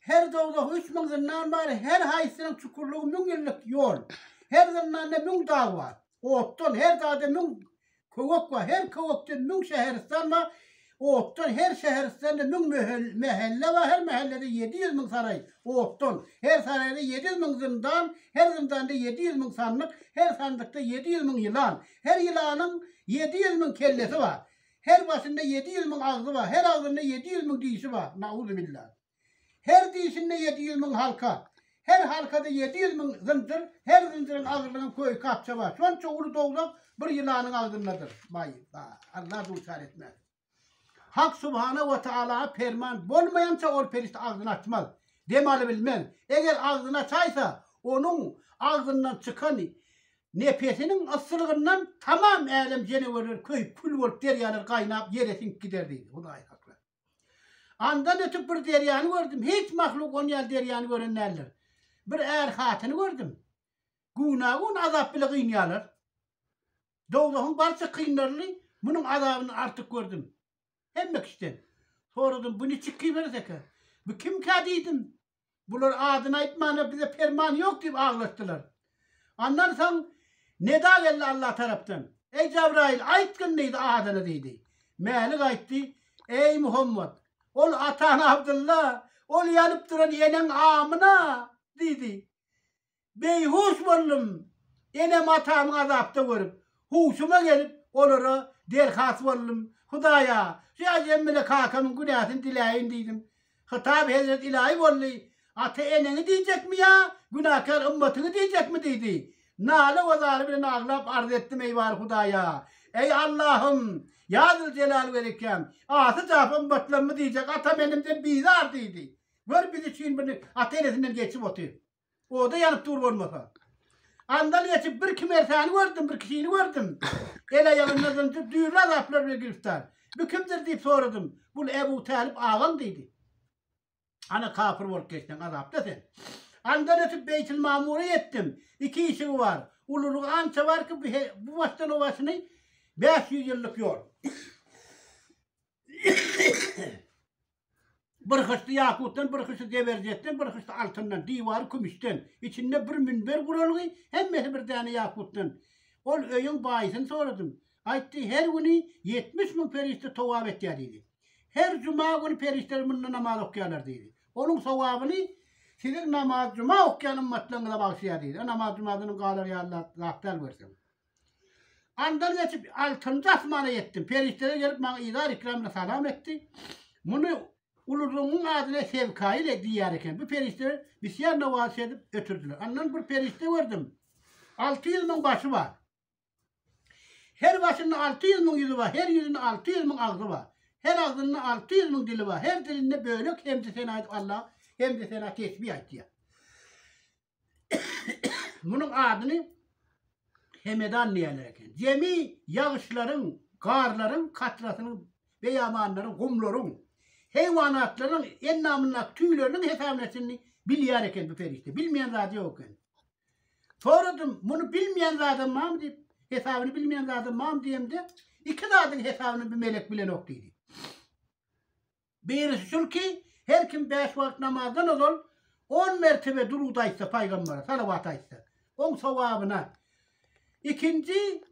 Her dowzahy üç müň zyndan bar, her haýsysynyň çukurlygy müň ýyllyk ýol. Her zyndanda müň dag bar, otdan, her dagda müň köwek bar, her köwekde müň şäheristan bar, otdan, her şäheristanda müň mähelle bar, her mähellede ýedi ýüz müň saraý, otdan, her saraýda ýedi ýüz müň zyndan, her zyndanda ýedi ýüz müň sandyk, her sandykda ýedi ýüz müň ýylan, her ýylanyň ýedi ýüz müň kellesi bar. Her başynda ýedi ýüz müň agzy bar, her agzynda ýedi ýüz müň dişi bar, nauzubillah. Her dişinde ýedi ýüz müň halka, her halkada ýedi ýüz müň zynjyr, her zynjyryň agzynda köýke-apja bar. Şonça uly dowzah bir ýylanyň agzyndadyr. Baý, baý, Allah duçar etmez. Hak subhana we taala perman bolmaýança ol perişde agzyny açmaz, dem alybilmez. Eger agzyny açaýsa, onuň agzyndan çykan Nepesiniň yssylygyndan tamam älem jenewerleri köýüp, kül bolup, derýalar gaýnap, ýere siňip gider diýdi. Hudaýy saklady. Andan ötüp bir derýany gördüm. Hiç mahluk on ýaly derýany gören däldir. Bir är-hatyny gördüm. Güna-gün azap bile gynýarlar. Dowzahyň barça kynlaryny munuň azabyndan artyk gördüm. Hemme kişiden. Soradym, bu niçik kiberes eken? Bu kimkä diýdim. Bular adyny aýtmana bize perman ýok diýip aglaşdylar. Andan soň neda geldi Allah tarapdan. Eý Jabraýyl, aýtgyn diýdi adyny diýdi. Mälik aýtdy, Eý Muhammet, ol ataň Abdylla, ol ýanyp duran eneň Amyna diýdi. Beýhuş boldum. Enem-atamyň azapda görüp, huşuma gelip, olara derhas boldum. Hudaýa, şu äjem bilen kakamyň günäsini diläýin diýdim. Hytab hezret ilaýy boldy. Ata-eneňi diýjekmi ýa günäkär ymmatyňy diýjekmi diýdi. Nala we zaly bilen aglap arz etdim, eý bary Hudaýa! Eý Allahym! Ýa Züljelal welikem! Asy jap ymmatlarymy diýjek atam-enemden bizar diýdi. Gör biz üçin bir ata-enesinden geçip otyr. Oda ýanyp dur bolmasa. Andan geçip bir kimersäni gördüm, bir kişini gördüm. El aýagynda zynjyr düýrli azaplar bilen giriftar. Bu kimdir diýip soradym. Bu Ebu Tälyp agam diýdi. Ana kapyr bolup geçseň azapda sen. Andan ötüp Beýtil Mamura ýetdim. Iki işigi bar. Ululygy ança bar ki, bu başdan o başyny bäş ýüz ýyllyk ýol. Bir hyşdy ýakutdan, bir hyşdy zeberjetden, bir hyşdy altyndan, diwary kümüşden, içinde bir münber guralgy, hemmesi bir däne ýakutdan. Ol öýüň baýysyny soradym. Aýtdy, her güni ýetmiş müň perişde towap etýär diýdi. Her juma güni perişdeler munda namaz okýarlar diýdi. Onuň sowabyny siziň namaz-juma okýan ymmatlaryňyza bagşlaýar diýdi. Namaz-jumadan galar ýaly zat däl görseň. Andan geçip, altynjy asmana ýetdim. Perişdeler gelip, maňa yzar-ikram bilen salam etdi. Muny ululygyňyň adyna Sewkaýyl diýýär eken. Bu perişdeler bisýar nowazy şedip ötürdiler. Andan bir perişde gördüm. Alty ýüz müň başy bar. Her başynda alty ýüz müň ýüzi bar, her ýüzünde alty ýüz müň agzy bar. Her agzynda alty ýüz müň dili bar. Her dilinde bölek hemdi-sena aýdyp, Allaha hemdi-sena, tesbih aýtýar. Munuň adyny Hemedan diýerler eken. Jemi ýagyşlaryň, garlaryň, katrasynyň, beýamanlaryň, gumlaryň, heýwanatlaryň endamyndaky tüýleriniň hesabyny etjini bilýär eken bu perişde. Bilmeýän zady ýok eken. Soradym, muny bilmeýän zadam barmy diýip, hesabyny bilmeýän zadam barmy diýemde, iki zadyň hesabyny bu melek bilenok diýdi. Birisi şul ki, her kim bäş wagt namazdan ozal on mertebe durud aýtsa pygambere, salawat aýtsa, oň sowabyna. Ikinji,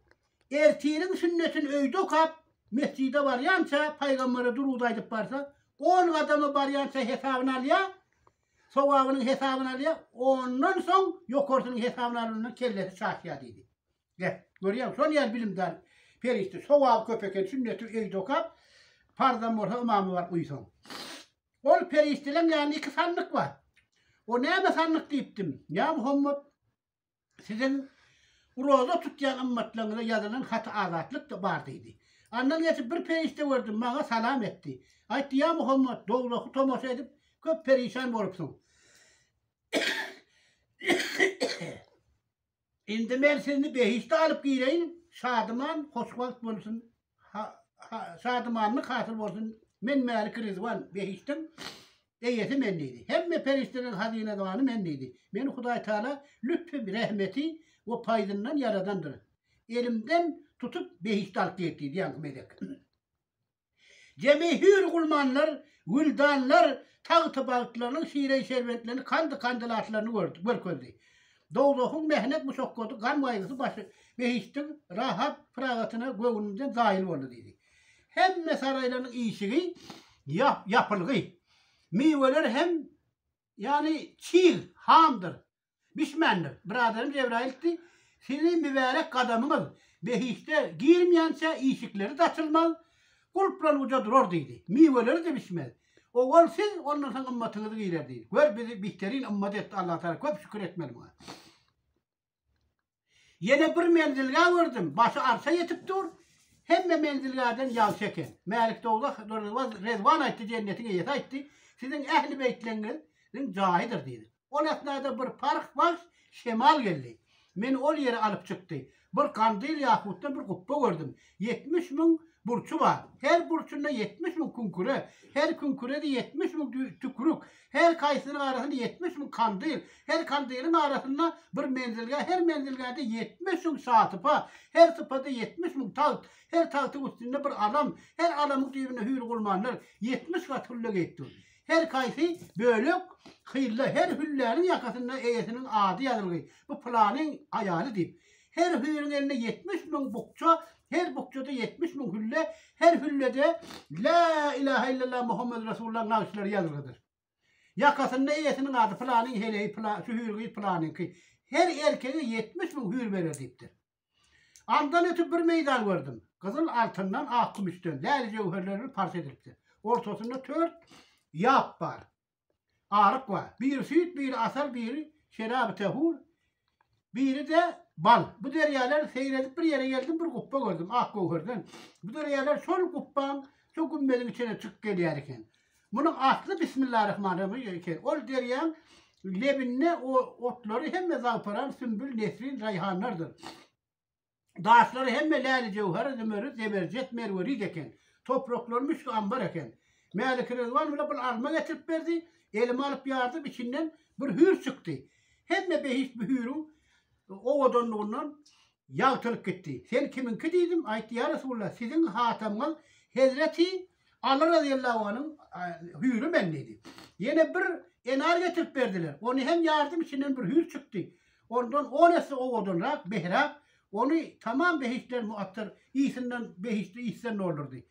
ertiriň sünnetini öýde okap, mesjide barýança pygambere durud aýdyp barsa, on gadama barýança hesabyny alýar, sowabynyň hesabyny alýar, ondan soň ýokarsynyň hesabyny alanynda kellesi çaşýar diýdi. Gep. Görýäň, şol ýaly bilimdar perişde. Sogaby köp eken, sünneti öýde okap, farzam bolsa ymamy bar uýsaň. Ol perişdeleň ýanynda iki sandyk bar. O näme sandyk diýipdim. Ýa Muhammet, siziň roza tutýan ymmatlaryňyza ýazylan haty azatlykda bar diýdi. Andan geçip bir perişde gördüm, maňa salam etdi. Aýtdy, ýa Muhammet, dowzahy tomaşa edip, köp perişan bolupsyň. Indi men sizni behişde alyp gireýin, şadyman, hoşwagt bolsun, şadymanlyk hasyl bolsun, men Mälik Ryzwan, behişdiň Eýesi men diýdi. Hemme perişdeleriň hazynadywany men diýdi. Meni Hudaý Taala lütfi, rehmeti we paýzyndan ýaradandyr. Elimden tutup behişde alyp giýip diýdi, ýaňky melek. Jemi hüýr gulmanlar, wüldanlar tagty-bagtlarynyň şiren-şerbetlerini, kandy-kandylatlaryny gördi, görkezdi. Dowzahyň mähnet-muşakgaty, gam-gaýgysy başy, behiştiň rahat-pyragatyna göwnünden zaýyl boldy diýdi. Hemme saraýlarynyň işigi ýap, ýapylgy. Miweler hem, ýagny çig, hamdyr. Bişmändir. Biraderim Jebraýyldy. Sizi mübärek gadamyňyz behişde girmeýänçä işikleri-de açylmaz, gulplan uja durar diýdi. Miweleri-de bişmez. Owal siz, ondan soň ymmatyňyz girer diýdi. Gör bizi bihterin ymmat etdi Allatagala köp şükür etmeli muňa. Ýene bir menzilgä gördüm, başy arsa ýetip dur, hemme menzilgäden ýagşy eken. Mälik Dowzah Rezwan aýtdy, Jennetiň eýesi aýtdy, Siziň ähli beýtleňiziň jaýydyr diýdi. Ol esnada bir parh bagş şemal geldi. Meni ol ýere alyp çykdy. Bir gandyl ýahutdan bir gupba gördüm. Ýetmiş müň burçy bar. Her burçunda ýetmiş müň küňküre. Her küňkürede ýetmiş müň tükürük. Her kaýsynyň arasynda ýetmiş müň kandyl. Her kandylyň arasynda bir menzilgä. Her menzilgäde ýetmiş müň şasypa. Her sypada ýetmiş müň tagt. Her tagtyň üstünde bir alam. Her alamyň düýbünde hüýr-gulmanlar ýetmiş gat hülle geýip dur. Her kaýsy bölek hylla. Her hülläniň ýakasynda eýesiniň ady ýazylgy. Bu pylanyň aýaly diýip. Her hüýrüň elinde ýetmiş müň bukja, her bukjada ýetmiş müň hülle, her hüllede La ilahe illallah Muhammed Resulullah nagyşlary ýazylgydyr. Ýakasynda eýesiniň ady pylanyň heleýi pyla, şu hüýrügiz pylanyňky. Her erkege ýetmiş müň hüýr berer diýipdir. Andan ötüp bir meýdan gördüm. Gyzyl altyndan, ak kümüşden, läli-jöwherlerden parça edilipdir. Ortasynda tört ýap bar. aryk bar. Biri süýt, biri asal, biri şeraby tähur, biri-de bal. Bu derýalar seýredip bir ýere geldim, bir gupba gördüm, ak göwherden. Bu derýalar şol gupbaň, şol gümmediň içine çykyp gelýär eken. Munuň asly Bismillarahmanrahym eken. Ol derýaň lebinde o otlary hemme zawparan, sümbül, nesrin, raýhanlardyr. Daşlary hemme läli-jöwher, zümerrit, zeberjet, merwerit eken. Topraklary müşk ambar eken. Mälikrizwan bile bir alma getirip berdi. Elime alyp ýardym, içinden bir hüýr çykdy. Hemme behişt bu hüýrüň owadanlygyndan ýagtylyp gitdi. Sen kimiňki diýdim. Aýtdy, Ýa Resulalla, siziň hatamyňyz hezreti Aly razyýallahu anyň hüýri men diýdi. Ýene bir enar getirip berdiler. Ony hem ýardyň içinden bir hüýr çykdy. Ondan on esse owadanrak, behräk, ony tamam behiştden muattar ysynden behiştli ysdan doldurdy.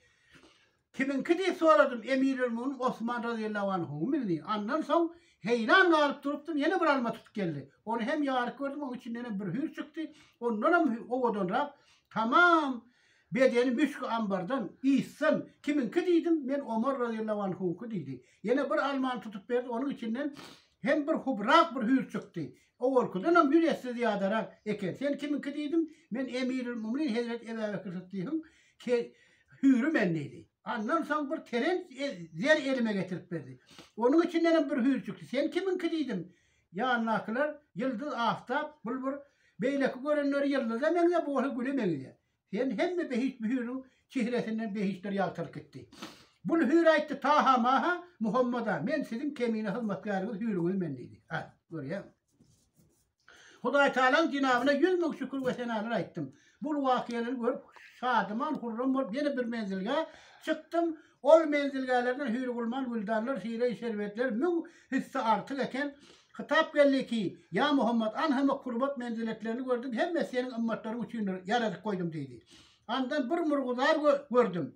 Kimiňki diýip soradym, Emirelmumynyň Osman razyýallahu anhumyňdy. Andan soň heýran galyp durupdym, ýene bir alma tutup geldi. Ony hem ýaryp gördüm, onuň içinden hem bir hüýr çykdy. Ondanam owadanrak, tamam Bedeni müsgi ambardan, ysdan, Kimiňki diýdim, Men Omar razyýallahu anhuňky diýdi. Ýene bir almany tutup berdi, onuň içinden hem bir hubrak bir hüýr çykdy. Owalkydanam ýüz esse zyýadarak eken. Sen kimiňki diýdim, Men Emirül muminin hezreti Ebä Bekir Syddygyň hüýri men diýdi. Andan soň bir terenç zer elime getirip berdi. Onuň içindenem bir hüýr çykdy. Sen kimiňki diýdim, Ýanyndakylar, Ýyldyz, Aftap, Bulbur, beýleki görenleri ýyldyza meňzäp, bu bolsa güle meňzeýär. Sen hemme behişt Bühüriň çehresinden behiştler ýagtylyp gitdi. Bul Hüri aýtdy, Taha, Maha, Muhammada, men siziň kemine hyzmatkäriňiz Hüriňiz men diýdi. A, görýäňmi? Hudaýtagalaň jenabyna ýüz müň şükür we senalar aýtdym. Bul wakyalary görüp şadyman hurram bolup ýene bir menzilgä çykdym. Ol menzilgälerden hüýrgulman güldanlar, şireý şerbetler müň hisse artyk eken. Hytap geldi ki, Ýa Muhammet, anha mekrubat menziletlerini gördüm, hemmesi seniň ymmatlaryň üçindir, ýaradyp goýdum diýdi. Andan bir murguzar gördüm.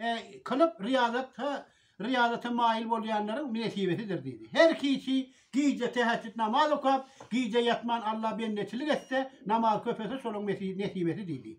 E, kylyp riýazat ha riýazata maýyl bolýanlaryň nesibesidir diýdi. Her kiçi gije täheçjüt namaz okap, gije ýatman Alla bendeçilik etse, namaz köp etse şolaň nesibesi diýdi.